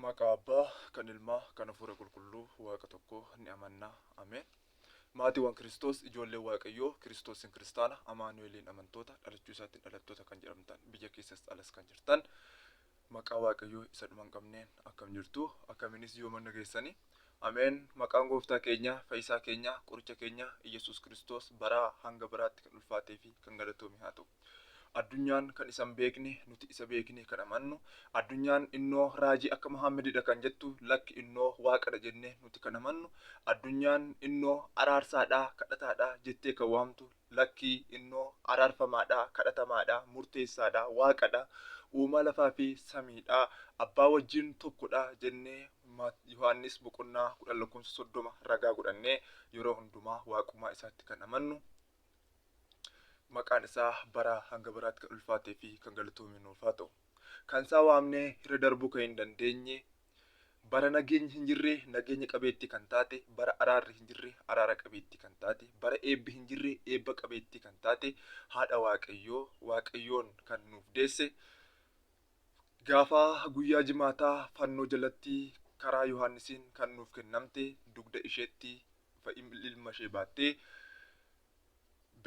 Maqaa Abbaa, kan Ilmaa, kan Hafuura Qulqulluu, Waaqa tokko ni amanna. Ameen. Maatiiwwan Kiristoos, ijoollee Waaqayyoo, Kiristoosiin Kiristaana, Amaanu'eliin amantoota, dhalachuu isaatiin dhalattoota kan jedhamtan, biyya keessas alas kan jirtan, maqaa Waaqayyoo isa dhuma hin qabneen akkam jirtu, akkamiinis yoomanna geessani. Ameen. Maqaan Gooftaa keenya, Fayyisaa keenya, Qoricha keenya, Iyyasuus Kiristoos baraa hanga baraatti kan ulfaatee fi kan galatoome haa ta'u. Addunyaan kan isa hin beekne, nuti isa beeknee kan amannu, addunyaan innoo raajii akka Muhaammedidha kan jettu, lakki innoo Waaqadha jennee nuti kan amannu, addunyaan innoo araarsaadha, kadhataadha jettee kan waamtu, lakki innoo araarfamaadha, kadhatamaadha, murteessaadha, Waaqadha, uumaa lafaa fi samiidha, Abbaa wajjin tokkodha jennee Mat. Yohaannis boqonnaa 10 lakkoofsa 30 ragaa godhannee yeroo hundumaa Waaqummaa isaatti kan amannu, maqaan isaa baraa hanga baraatti kan ulfaatee fi kan galatoome nuuf haa ta'u. Kan isaa waamnee irra darbuu kan hin dandeenye, bara nageenyi hin jirre nageenya qabeettii kan taate, bara araarri hin jirre araara qabeettii kan taate, bara eebbi hin jirre eebba qabeettii kan taate haadha Waaqayyoo, Waaqayyoon kan nuuf deesse, gaafa guyyaa jimaataa fannoo jalatti karaa Yohaannisiin kan nuuf kennamte dugda isheetti fa ilma ishee baattee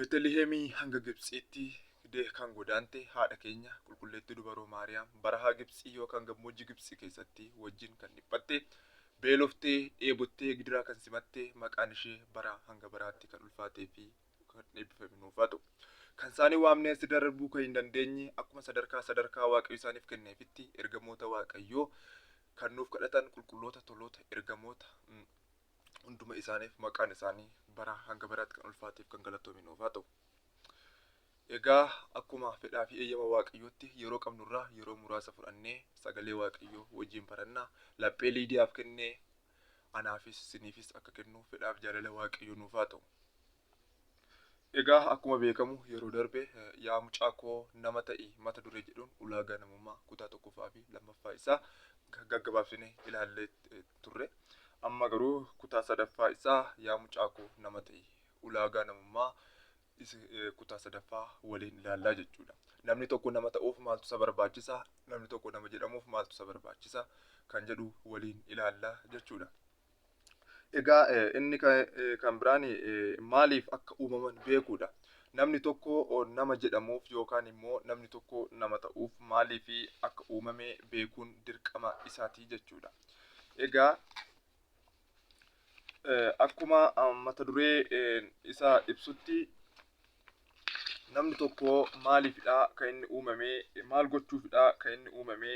Betelihemii hanga Gibtsiitti fidee kan godaante haadha keenya qulqulleettii dubaroo Maariyaam barahaa Gibtsii yookaan gammoojji Gibtsi keessatti wajjin kan dhiphatte, beeloftee, dheebottee, gidiraa kan simatte, maqaan ishee baraa hanga baraatti kan ulfaatee fi kan eebbifame nuuf haa ta'u. Kan isaanii waamnee asitti darbuu kan hin dandeenye akkuma sadarkaa sadarkaa Waaqayyo isaaniif kenneefitti ergamoota Waaqayyoo kan nuuf kadhatan qulqulloota, toloota, ergamoota, hunduma isaaniif maqaan isaanii bara hanga baraatti kan ulfaateef kan galatoomi nuuf haa ta'u. Egaa akkuma fedhaa fi eeyyama waaqayyootti yeroo qabnurraa yeroo muraasa fudhannee sagalee waaqayyoo wajjin barannaa laphee liidiyaaf kennee anaafis siniifis akka kennu fedhaaf jaalala waaqayyoo nuuf haa ta'u. Egaa akkuma beekamu yeroo darbe eh, yaa mucaa koo nama ta'i mata duree jedhuun ulaagaa namummaa kutaa tokkoffaa fi lammaffaa isaa ga- gaggabaabsine ilaallee eh, turre. Amma garuu kutaa sadaffaa isaa yaa mucaakoo nama ta'i. Ulaagaa namummaa isa eh, kutaa sadaffaa waliin ilaallaa jechuudha. Namni tokko nama ta'uuf maaltu isa barbaachisa? Namni tokko nama jedhamuuf maaltu isa barbaachisa? Kan jedhu waliin ilaallaa jechuudha. Egaa eh, inni ka- eh, kan biraan eh, maaliif akka uumaman beekuudha. Namni tokko oh, nama jedhamuuf yookaan immoo namni tokko nama ta'uuf maaliif akka uumame beekuun dirqama isaati jechuudha. Egaa akkuma mata duree isaa ibsutti namni tokko maaliifidha kan inni uumame maal gochuufidha kan inni uumame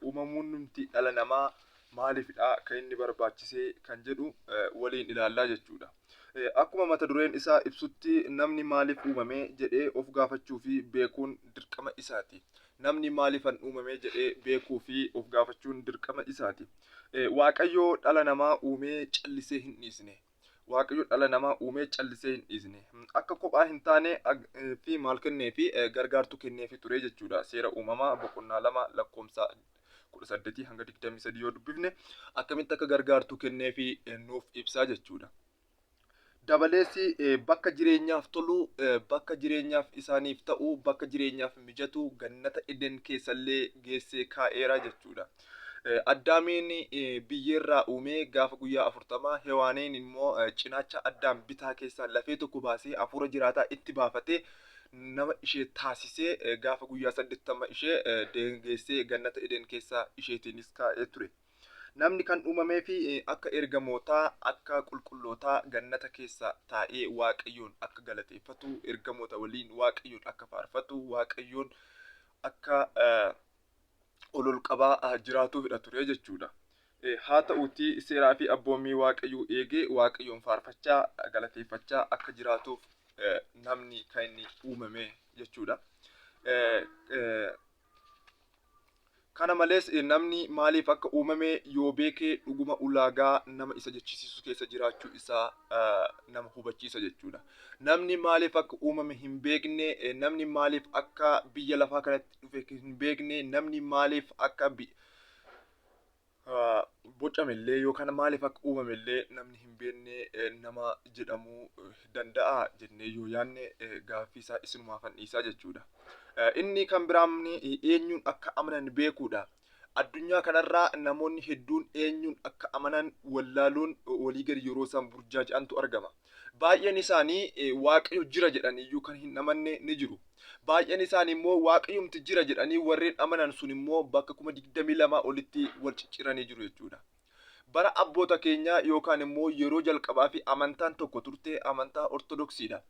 uumamuun nuti dhala namaa maaliifidha kan inni barbaachise kan jedhu waliin ilaallaa jechuudha. Akkuma mata dureen isaa ibsutti namni maaliif uumame jedhee of gaafachuu fi beekuun dirqama isaati. Namni maaliifan uumame jedhee beekuu fi of gaafachuun dirqama isaati. Waaqayyo dhala namaa uumee callisee hin dhiisne. Waaqayyo dhala namaa uumee callisee hin dhiisne. Akka kophaa hin taane fi maal kennee fi gargaartuu kennee fi ture jechuudha. Seera uumamaa boqonnaa lama lakkoofsa kudha saddeetii hanga digdamii sadii yoo dubbifne akkamitti akka gargaartuu kennee fi nuuf ibsaa jechuudha. Dabalees bakka jireenyaaf tolu, bakka jireenyaaf isaaniif ta'u, bakka jireenyaaf mijatu gannata Eden keessallee geessee kaa'eera jechuudha. Addaamiin biyyeerraa uumee gaafa guyyaa afurtamaa Hewaaniin immoo cinaacha Addaam bitaa keessaa lafee tokko baasee hafuura jiraataa itti baafatee nama ishee taasisee gaafa guyyaa saddeettama ishee deengeessee gannata Eden keessaa isheetiinis kaa'ee ture. Namni kan uumameef akka ergamootaa, akka qulqullootaa gannata keessa taa'ee Waaqayyoon akka galateeffatu, ergamoota waliin Waaqayyoon akka faarfatu, Waaqayyoon akka ol ol qabaa jiraatuufidha ture jechuudha. Haa ta'uutii seeraa fi abboommii Waaqayyoo eegee Waaqayyoon faarfachaa, galateeffachaa akka jiraatuuf namni kan inni uumame jechuudha. Kana malees, namni maaliif akka uumame yoo beeke dhuguma ulaagaa nama isa jechisiisu keessa jiraachuu isaa nama hubachiisa jechuudha. Namni maaliif akka uumame hin beekne, namni maaliif akka biyya lafaa kanatti dhufe hin beekne, namni maaliif akka bocame illee yookaan maaliif akka uumame illee namni hin beekne nama jedhamuu danda'a jennee yoo yaadne gaaffii isaa isinumaa fannisa jechuudha. Inni kan biraan eenyuun akka amanan beekuudha. Addunyaa kanarraa namoonni hedduun eenyuun akka amanan wallaaluun walii gadi yeroo isaan burjaaja'antu argama. Baay'een isaanii Waaqayyo jira jedhanii iyyuu kan hin amanne ni jiru. Baay'een isaanii immoo Waaqayyumti jira jedhanii warreen amanan sun immoo bakka kuma digdamii lamaa olitti wal cicciranii jiru jechuudha. Bara abboota keenyaa yookaan immoo yeroo jalqabaa fi amantaan tokko turte amantaa Ortodoksiidha.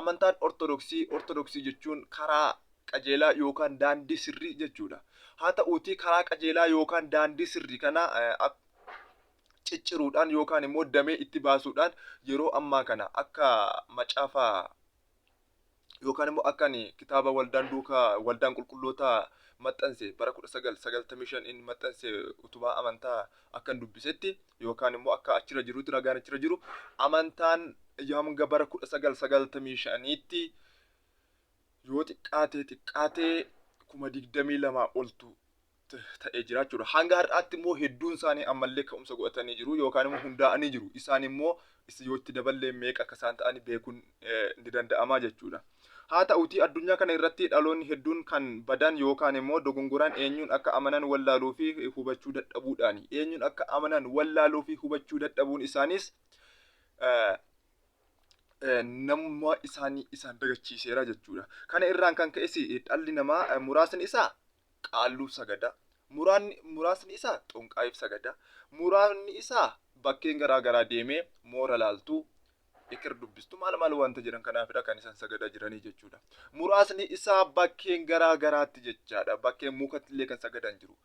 Amantaan Ortodoksii, Ortodoksii jechuun karaa qajeelaa yookaan daandii sirrii jechuudha. Haa ta'uutii karaa qajeelaa yookaan daandii sirrii kana cicciruudhaan yookaan immoo damee itti baasuudhaan yeroo ammaa kana akka macaafa yookaan immoo akka ani kitaaba waldaan duuka waldaan qulqulloota maxxanse bara 1995 inni maxxanse utubaa amantaa akkan dubbisetti yookaan immoo akka achirra jirutti ragaan achirra jiru amantaan hanga bara 1995tti yoo xiqqaatee xiqqaatee kuma digdamii lamaa oltu ta'ee jira jechuudha. Hanga har'aatti immoo hedduun isaanii ammallee ka'umsa godhatanii jiru yookaan immoo hundaa'anii jiru. Isaan immoo yoo itti daballee meeqa akka isaan ta'an beekuun ni danda'ama jechuudha. Haa ta'utii addunyaa kana irratti dhaloonni hedduun kan badan yookaan immoo dogongoraan eenyuun akka amanan wallaaluu fi hubachuu dadhabuudhaani. Eenyuun akka amanan wallaaluu fi hubachuu dadhabuun isaaniis namummaa isaanii isaan dagachiiseera jechuudha. Kana irraan kan ka'es dhalli namaa muraasni isaa Qaalluuf sagada, muraanni, muraasni isaa Xonqaayiif sagada, muraanni isaa bakkeen garaa garaa deemee moora laaltuu, eker dubbistu maal maal wanta jedhan kanaafidha kan isan sagadaa jiranii jechuudha. Muraasni isaa bakkeen garaa garaatti jechaadha. Bakkeen mukattillee kan sagadan jiru.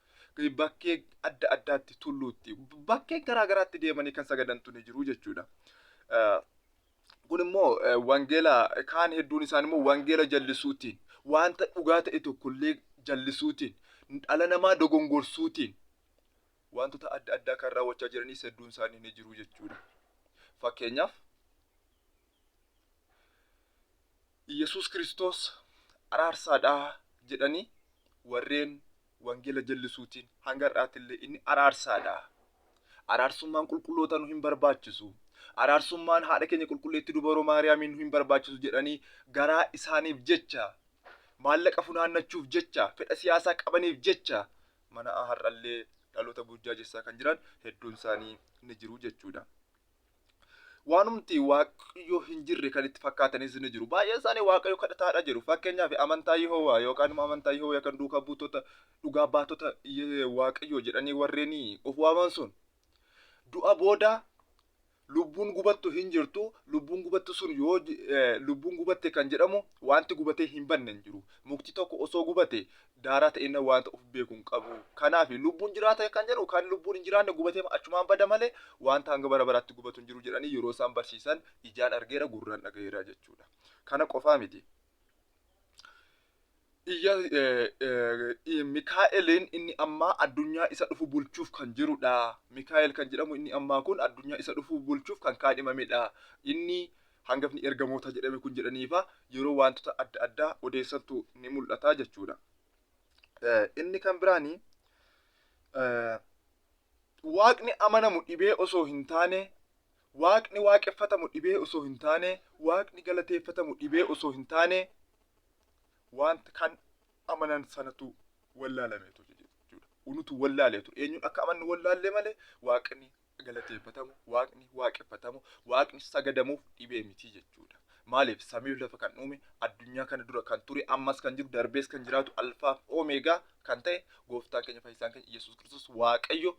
Bakkee adda addaatti tulluutti bakkeen garaa garaatti deemanii kan sagadantu ni jiru jechuudha. Kun immoo wangeela kaan hedduun isaan immoo wangeela jallisuutiin wanta dhugaa ta'e tokkollee jallisuutiin dhala namaa dogongorsuutiin wantoota adda addaa kan raawwachaa jiranis hedduun isaanii ni jiru jechuudha. Fakkeenyaaf Yesuus Kiristoos araarsaadhaa jedhanii warreen Wangeela jallisuutiin hanga har'aatillee inni araarsaadha. Araarsummaan qulqullootaa nu hin barbaachisu. Araarsummaan haadha keenya qulqulleetti dubaroo Maariyaamiin nu hin barbaachisu jedhanii garaa isaaniif jecha, maallaqa funaannachuuf jecha, fedha siyaasaa qabaniif jecha mana'aa har'allee dhaloota burjaajessaa kan jiran hedduun isaanii ni jiru jechuudha. Waanumti Waaqayyoo hin jirre kan itti fakkaatanis ni jiru. Baay'een isaanii Waaqayyo kadhataadha jedhu. Fakkeenyaaf amantaa Yihowaa yookaan immoo amantaa Yihowaa yookaan duukaa buutota dhugaa baatota Ye- Waaqayyoo jedhanii warreen of waaman sun du'a booda lubbuun gubattu hin jirtu. Lubbuun gubattu sun yoo ji- eh, lubbuun gubatte kan jedhamu wanti gubatee hin banne hin jiru. Mukti tokko osoo gubate daaraa ta'e inni wanta of beeku hin qabu. Kanaaf lubbuun jiraata kan jedhu kan lubbuun hin jiraanne gubatee achumaan bada malee wanta hanga bara baraatti gubatu hin jiru jedhanii yeroo isaan barsiisan ijaan argeera gurraan dhagaheera jechuudha. Kana qofaa miti. Iyya Mikaa'eliin inni ammaa addunyaa isa dhufu bulchuuf kan jirudha. Mikaa'el kan jedhamu inni ammaa kun addunyaa isa dhufu bulchuuf kan kaadhimamedha. Inni Hangafni ergamoota jedhame kun jedhaniifa yeroo waantota adda addaa odeessantu ni mul'ata jechuudha. Inni kan biraan waaqni amanamu dhibee osoo hin taane waaqni waaqeffatamu dhibee osoo hin taane waaqni galateeffatamu dhibee osoo hin taane wanta kan amanan sanatu wallaalameetu jechuudha. Unutu wallaaleetu eenyuun akka amannu wallaallee malee waaqni galateeffatamu, waaqni waaqeffatamu, waaqni sagadamuuf dhibee miti jechuudha. Maaliif samiif lafa kan uume addunyaa kana dura kan ture ammas kan jiru darbees kan jiraatu alfaaf oomeegaa kan ta'e gooftaan keenya fayyisaan keenya Yesuus Kiristoos Waaqayyo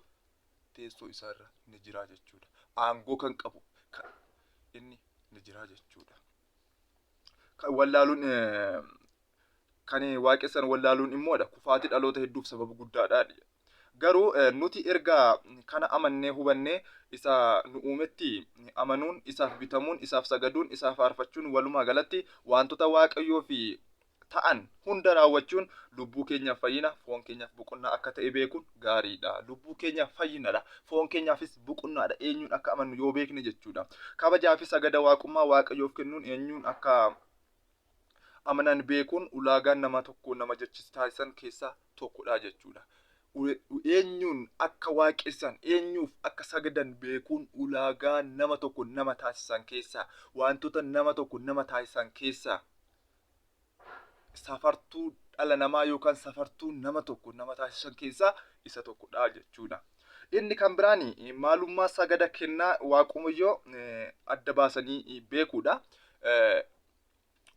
teessoo isaarra ni jira jechuudha. Aangoo kan qabu kan inni ni jira jechuudha. kan wallaaluun eh, kan waaqessan wallaaluun immoodha kufaatii dhaloota hedduuf sababa guddaadha jedha. garuu eh, nuti erga kana amannee hubannee isa nu uumetti amanuun isaaf bitamuun isaaf sagaduun isaaf faarfachuun walumaa galatti wantoota waaqayyoo fi ta'an hunda raawwachuun lubbuu keenyaaf fayyina, foon keenyaaf boqonnaa akka ta'e beekuun gaariidha. Lubbuu keenyaaf fayyinadha. Foon keenyaafis boqonnaadha. Eenyuun akka amannu yoo beekne jechuudha. Kabajaa fi sagada waaqummaa Waaqayyoof kennuun eenyuun akka amanan beekuun ulaagaan nama tokko nama jechis taasisan keessaa tokkodha jechuudha. Eenyuun akka waaqessan, eenyuuf akka sagadan beekuun ulaagaa nama tokko nama taasisan keessaa, wantoota nama tokko nama taasisan keessaa safartuu dhala namaa yookaan safartuu nama tokko nama taasisan keessaa isa tokkodha jechuudha. Inni kan biraan maalummaa sagada kennaa Waaqayyoo adda baasanii beekuudha.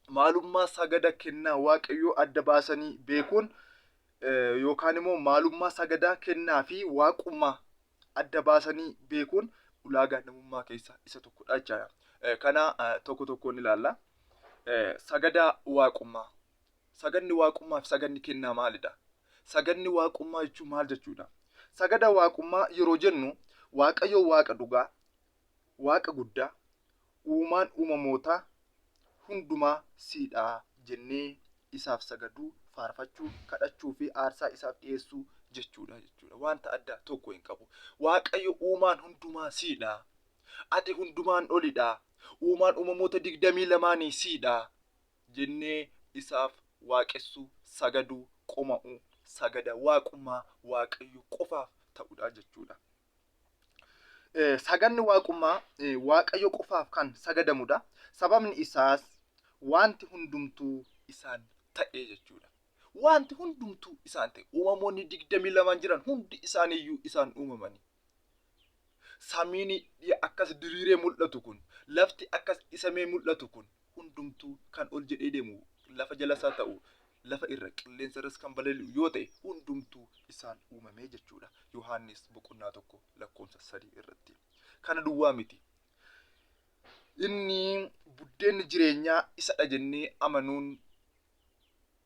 Maalummaa sagada kennaa Waaqayyoo adda baasanii beekuun yookaan immoo maalummaa sagadaa kennaa fi waaqummaa adda baasanii beekuun ulaagaa namummaa keessaa isa tokkodha jechaadha. Eh, Kana eh, tokko tokkoon ilaalla. Eh, Sagadaa waaqummaa. Sagadni waaqummaa fi sagadni kennaa maalidha? Sagadni waaqummaa jechuun maal jechuudha? Sagada waaqummaa yeroo jennu Waaqayyo waaqa dhugaa, waaqa guddaa, Uumaan uumamootaa hundumaa sii dha jennee isaaf sagaduu, faarfachuu, kadhachuu fi aarsaa isaaf dhiyeessuu jechuu dha jechuu dha. Wanta addaa tokko hin qabu. Waaqayyo uumaan hundumaa sii dha. Ati hundumaan oli dha. Uumaan uumamoota digdamii lamaanii sii dha jennee isaaf waaqessuu, sagaduu, qoma'uu, sagada waaqummaa Waaqayyo qofaaf ta'u dha jechuu dha. sagadni waaqummaa Waaqayyo qofaaf kan sagadamudha. Sababni isaas wanti hundumtuu isaan ta'e jechuudha. Wanti hundumtuu isaan ta'e uumamoonni digdamii lamaan jiran hundi isaaniiyyuu isaan uumamanii. Samiin akkas diriiree mul'atu kun, lafti akkas dhisamee mul'atu kun, hundumtuu kan ol jedhee deemu lafa jalas haa ta'u lafa irra, qilleensa irras kan balali'u yoo ta'e hundumtuu isaan uumame jechuu dha. Yohaannis boqonnaa 1 lakkoofsa 3 irratti. Kana duwwaa miti. Inni buddeenni jireenyaa isa dha jennee amanuun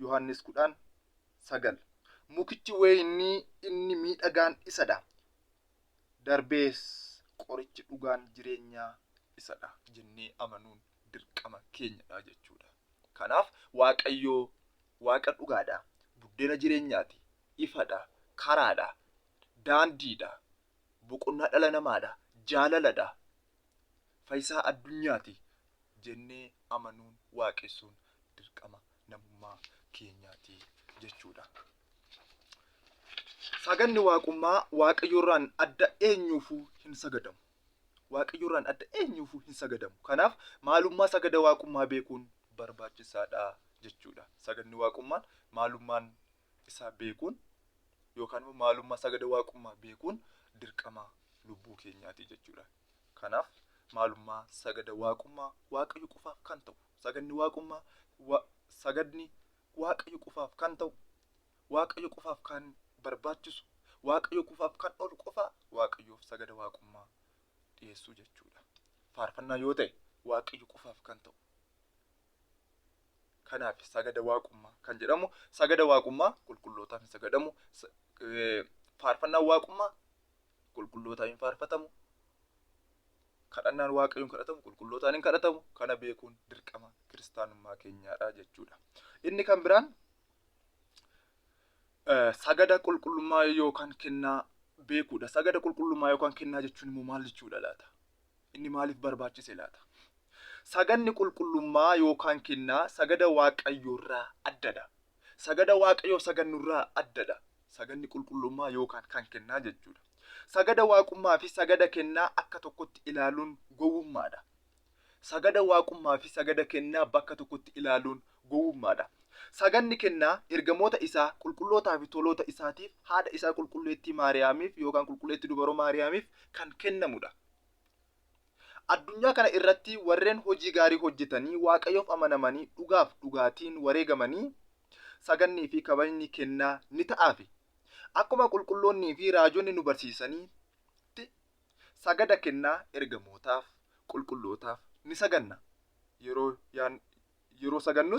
Yohaannis 10, 9 Mukichi weeynii inni miidhagaan isa dha, darbees qorichi dhugaan jireenyaa isa dha jennee amanuun dirqama keenya dha jechuu dha. Kanaaf Waaqayyo Waaqa dhugaa dha, buddeena jireenyaa ti, ifa dha, karaa dha, daandii dha, boqonnaa dhala namaa dha, jaalala dha, Fayisaa addunyaati jennee amanuun, waaqessuun dirqama namummaa keenyaati jechuudha. Saganni waaqummaa Waaqayyorraan adda eenyuufuu hin sagadamu. Waaqayyorraan adda eenyuufuu hin sagadamu. Kanaaf maalummaa sagada waaqummaa beekuun barbaachisaadha jechuudha. Saganni waaqummaan maalummaan isaa beekuun yookaan immoo maalummaa isaa gada waaqummaa beekuun dirqama lubbuu keenyaati jechuudha. Kanaaf maalummaa sagada waaqummaa waaqayyo qofaaf kan ta'u sagadni waaqummaa wa- sagadni waaqayyo qofaaf kan ta'u waaqayyo qofaaf kan barbaachisu waaqayyo qofaaf kan oolu qofaa waaqayyoof sagada waaqummaa dhiyeessuu jechuudha. Faarfannaa yoo ta'e waaqayyo qofaaf kan ta'u Kanaaf sagada waaqummaa kan jedhamu sagada waaqummaa qulqullootaaf hin sagadamu. Faarfannaan waaqummaa qulqullootaaf hin faarfatamu. Kadhannaan waaqayyoon kadhatamu qulqullootaan hin kadhatamu. Kana beekuun dirqama kiristaanummaa keenyaadha jechuudha. Inni kan biraan sagada qulqullummaa yookaan kennaa beekuudha. Sagada qulqullummaa yookaan kennaa jechuun immoo maal jechuudha laata? Inni maaliif barbaachise laata? Sagadni qulqullummaa yookaan kennaa sagada Waaqayyoorraa addadha. Sagada Waaqayyoo sagannurraa addadha. Sagadni qulqullummaa yookaan kan kennaa jechuudha. Sagada Waaqummaa fi sagada kennaa akka tokkotti ilaaluun gowwummaadha. Sagada Waaqummaa fi sagada kennaa bakka tokkotti ilaaluun gowwummaa dha. Saganni kennaa ergamoota isaa qulqullootaa fi toloota isaatiif, haadha isaa qulqulleettii Maariyaamiif yookaan qulqulleetti dubaroo Maariyaamiif kan kennamu dha. Addunyaa kana irratti warreen hojii gaarii hojjetanii Waaqayyoof amanamanii dhugaaf dhugaatiin wareegamanii sagannii fi kabajni kennaa ni ta'aafi. Akkuma qulqulloonnii fi raajonni nu barsiisanitti Sagada kennaa ergamootaaf, qulqullootaaf, ni saganna. Yeroo, yeroo sagannus